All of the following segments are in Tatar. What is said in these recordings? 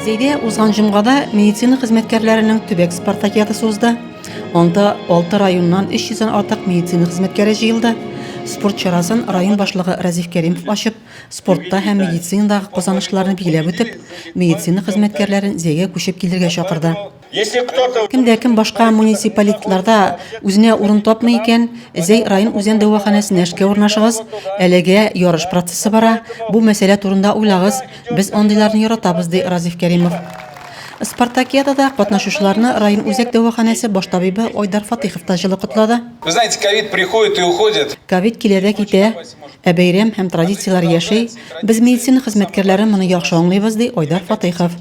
Зәйдә узган җомгада медицина хезмәткәрләренең төбәк спартакиадасы узды. Анда 6 районнан 300 дән артык медицина хезмәткәре җыелды. Спорт чарасын район башлыгы Разиф Кәримов ачып, спортта һәм медицинадагы казанышларны билгеләп үтеп, медицина хезмәткәрләрен Зәйгә күчеп килергә чакырды. Если кто-то... Кем дә кем башка муниципалитларда үзенә урын тапмый икән, Зәй район үзән дәваханәсенә эшкә урнашыгыз. Әлегә ярыш процессы бара. Бу мәсьәлә турында уйлагыз. Без андыйларны яратабыз, ди Разиф Кәримов. Спартакиадада катнашучыларны район үзәк дәваханәсе баш табибы Айдар Фатыйхов та җылы котлады. Вы знаете, ковид приходит и уходит. Ковид килә дә китә, ә бәйрәм һәм традицияләр яши. Без медицина хезмәткәрләре моны яхшы аңлыйбыз, ди Айдар Фатыйхов.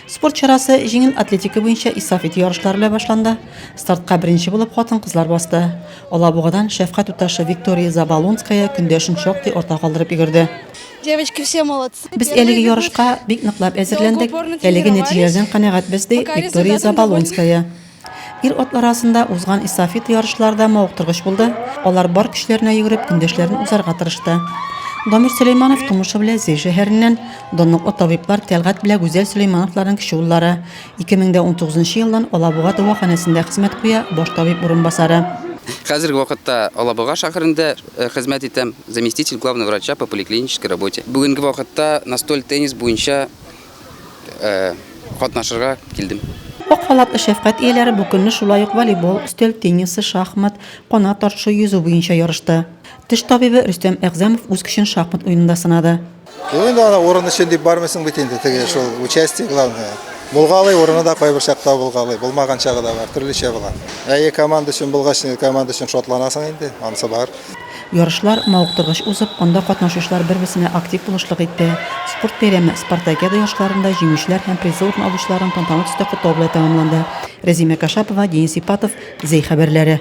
Спорт чарасы җиңел атлетика буенча эстафета ярышлары белән башланды. Стартка беренче булып хатын-кызлар басты. Алабугадан шәфкать туташы Виктория Заболонская көндәшен шактый артта калдырып йөгерде. Девочки все молодцы. Без әлеге ярышка бик ныклап әзерләндек, әлеге нәтиҗәләрдән канәгатьбез, ди Виктория Заболонская. Ир-атлар арасында узган эстафета ярышлары да мавыктыргыч булды. Алар бар көчләренә йөгереп, көндәшләрен узарга тырышты. Дамир Сөләйманов тумышы белән Зәй шәһәреннән, данлыклы табиблар Тәлгать белән Гүзәл Сөләймановларның кече уллары. 2019 елдан Алабуга дәваханәсендә хезмәт куя, баш табиб урынбасары. Хәзерге вакытта Алабуга шәһәрендә э, хезмәт итәм, заместитель главного врача по поликлинической работе. Бүгенге вакытта настоль теннис буенча Э, катнашырга килдем. Ак халатлы шәфкать ияләре бу көнне шулай ук волейбол, өстәл теннисы, шахмат, канат тартышу, йөзү буенча ярышты. Теш табибы Рөстәм Әгъзәмов үз көчен шахмат уенында сынады. Юк инде ана урын өчен дип бармыйсың бит инде теге шул участие главное. Булгалый урыны да кайбер чакта булгалый, булмаган чагы да бар, төрлечә була. Әйе, команда өчен булгач, команда өчен шатланасың инде, анысы бар. Ярышлар мавыктыргыч узып, анда катнашучылар бер-берсенә актив булышлык итте. Спорт бәйрәме Спартакиада ярышларында җиңүчеләр һәм призлы урын алучыларын тантаналы төстә котлау белән тәмамланды. Рәзимә Кашапова, Денис Ипатов, Зәй хәбәрләре.